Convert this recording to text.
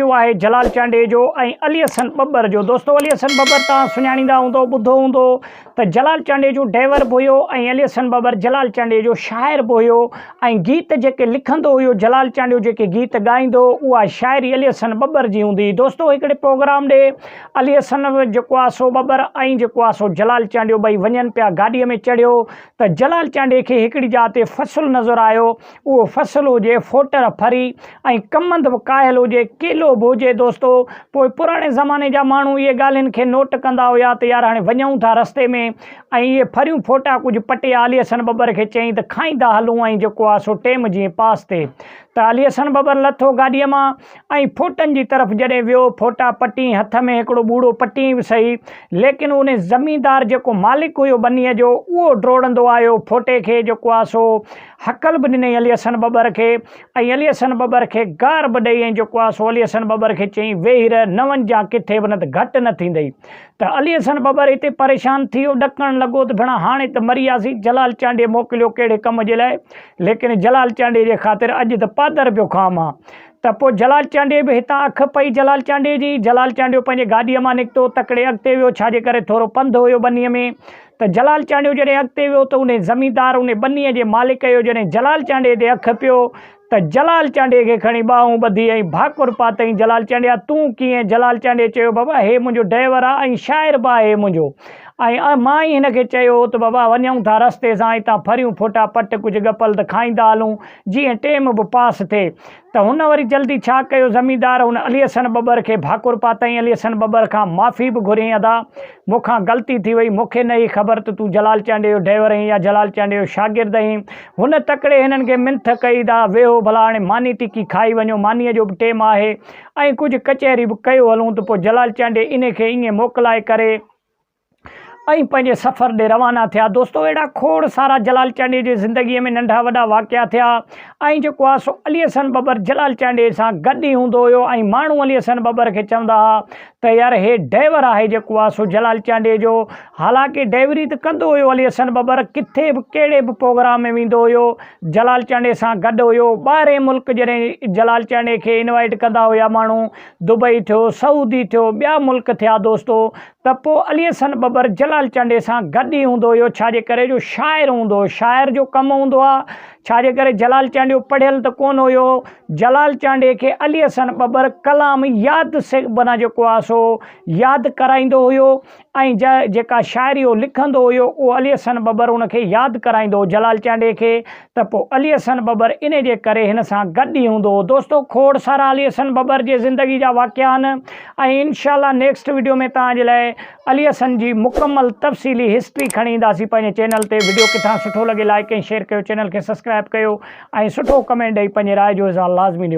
اهو آهي جلال چانڊيجو ۽ علي حسن ٻٻر جو. دوستو علي حسن ٻٻر توهان سڃاڻيندا هوندؤ، ٻڌو هوندو ته جلال چانڊيجو ڊئيور به هيو ۽ علي حسن ٻٻر جلال چانڊيجو شاعر به هيو ۽ گيت جيڪي لکندو هيو جلال چانڊيو جيڪي گيت ڳائيندو هو اها شاعري علي حسن ٻٻر جي هوندي هئي. دوستو هڪڙي پروگرام ڏي علي حسن جيڪو آهي سو ٻٻر ۽ جيڪو آهي سو جلال چانڊيو ٻئي وڃن پيا گاڏيء ۾ چڙهيو ته جلال چانڊيي کي هڪڙي جاء تي فصل نظر آيو اهو فصل هجي ڦوٽر ڦري ۽ ڪمند به ڪاهيل هجي، ڪيلو به هجي دوستو! پوء پراڻي زماني جا ماڻهو اهي ڳالهين کي نوٽ ڪندا هيا ته يار هاڻي وڃون ٿا رستي ۾ ۽ اهي ڦريون ڦوٽا ڪجهه پٽي علي حسن ٻٻر کي چئين ته کائيندا هلون ۽ جيڪو آ سو ٽيم جيئن پاس ٿئي. ته علي حسن ٻٻر لٿو گاڏيء مان ۽ ڦوٽن جي طرف جڏهن ويو ڦوٽا پٽيئين هٿ ۾ هڪڙو ٻوڙو پٽيئين به سهي ليڪن ان زميندار جيڪو مالڪ هيو ٻنيء جو اهو ڊوڙندو آيو ڦوٽي کي جيڪو آ سو هڪل به ڏنائين علي حسن ٻٻر کي ۽ علي حسن ٻٻر کي گار به ڏئي ۽ جيڪو آ سو علي حسن ٻٻر کي چيائين ويهي رهه نه وڃجان ڪٿي به نه ته گهٽ نه ٿيندئي ته علي حسن ٻٻر هتي پريشان ٿي ويو ڏڪڻ لڳو ته ڀيڻا هاڻي ته مري وياسين جلال چانڊيي موڪليو ڪهڙي ڪم جي لاء ليڪن جلال چانڊيي جي خاطر اڄ ته پادر پيو کان مان ته پوء جلال چانڊيي به هتان اک پئي جلال چانڊيي جي جلال چانڊيو پنهنجي گاڏيء مان نڪتو تڪڙي اڳتي ويو ڇا جي ڪري ٿورو پنڌ هيو ٻنيء ۾ ته جلال چانڊيو جڏهن اڳتي ويو ته انهي زميندار انهي ٻنيء جي مالڪ جو جڏهن جلال چانڊيي تي اک پيو ته جلال چانڊيي کي کڻي ٻانهون ٻڌي ۽ ڀاڪر پاتئين جلال چانڊيا تون ڪيئن جلال چانڊيي چيو بابا هي منهنجو ڊئيور آ ۽ شاعر به آهي منهنجو ۽ مان ئي هن کي چيو هو ته بابا وڃون ٿا رستي سان اتان ڦريون ڦوٽا پٽ ڪجهه ڳپل ته کائيندا هلون جيئن ٽيم به پاس ٿئي ته هن وري جلدي ڇا ڪيو زميندار ان علي حسن ٻٻر کي ڀاڪر پاتائين علي حسن ٻٻر کان معافي به گهريائين ادا مون کان غلطي ٿي وئي مون کي نه هئي خبر ته تون جلال چانڊيي جو ڊئور اهين يا جلال چانڊيي جو شاگرد اهين هن تڪڙي هنن کي منٿ ڪئي ادا ويهو ڀلا هاڻي ماني ٽڪي کائي وڃو مانيء جو به ٽيم آهي ۽ ڪجهه ڪچهري به ڪيو هلون ته پوء جلال چانڊيي انهي کي ائين موڪلائي ڪري ۽ پنهنجي سفر ڏي روانا ٿيا. دوستو اهڙا کوڙ سارا جلال چانڊيي جي زندگيء ۾ ننڍا وڏا واقعا ٿيا ۽ جيڪو آ سو علي حسن ٻٻر جلال چانڊيي سان گڏ ئي هوندو هيو ۽ ماڻهو علي حسن ٻٻر کي چوندا ها ته يار هي ڊئيور آهي جيڪو آ سو جلال چانڊيي جو حالانڪه ڊئيوري ته ڪندو هيو علي حسن ٻٻر ڪٿي به ڪهڙي به پوگرام ۾ ويندو هيو جلال چانڊيي سان گڏ هيو ٻاهرين ملڪ جڏهن جلال چانڊيي کي انوائيٽ ڪندا هيا ماڻهو دبئي ٿيو سعودي ٿيو ٻيا ملڪ ٿيا دوستو ته پوء علي حسن ٻٻر جلال چانڊئي سان گڏ ئي هوندو هيو، ڇا جي ڪري جو شاعر هوندو هو، شاعر جو ڪم هوندو آ، ڇا جي ڪري جلال چانڊيو پڙهيل ته ڪونه هيو، جلال چانڊئي کي علي حسن ٻٻر ڪلام ياد سيکبنا جيڪو آ سو ياد ڪرائيندو هيو ۽ جا جيڪا شاعري هو لکندو هيو اهو علي حسن ٻٻر ان کي ياد ڪرائيندو هو جلال چانڊئي کي. ته پوء علي حسن ٻٻر انهي جي ڪري هن سان گڏ ئي هوندو هو. دوستو کوڙ سارا علي حسن ٻٻر جي زندگي جا واقعا آهن ۽ انشاء الله نيڪسٽ وڊيو ۾ توهان جي لاء علي حسن جي مڪمل تفصيلي هسٽري کڻي اينداسين پنهنجي چينل تي وڊيو ڪٿان سٺو لڳي لائيڪ ۽ شيئر ڪيو چينل کي سبسڪرائب ڪيو ۽ سٺو ڪمينٽ ڏئي پنهنجي راء جو اظهار لازمي ڏيو.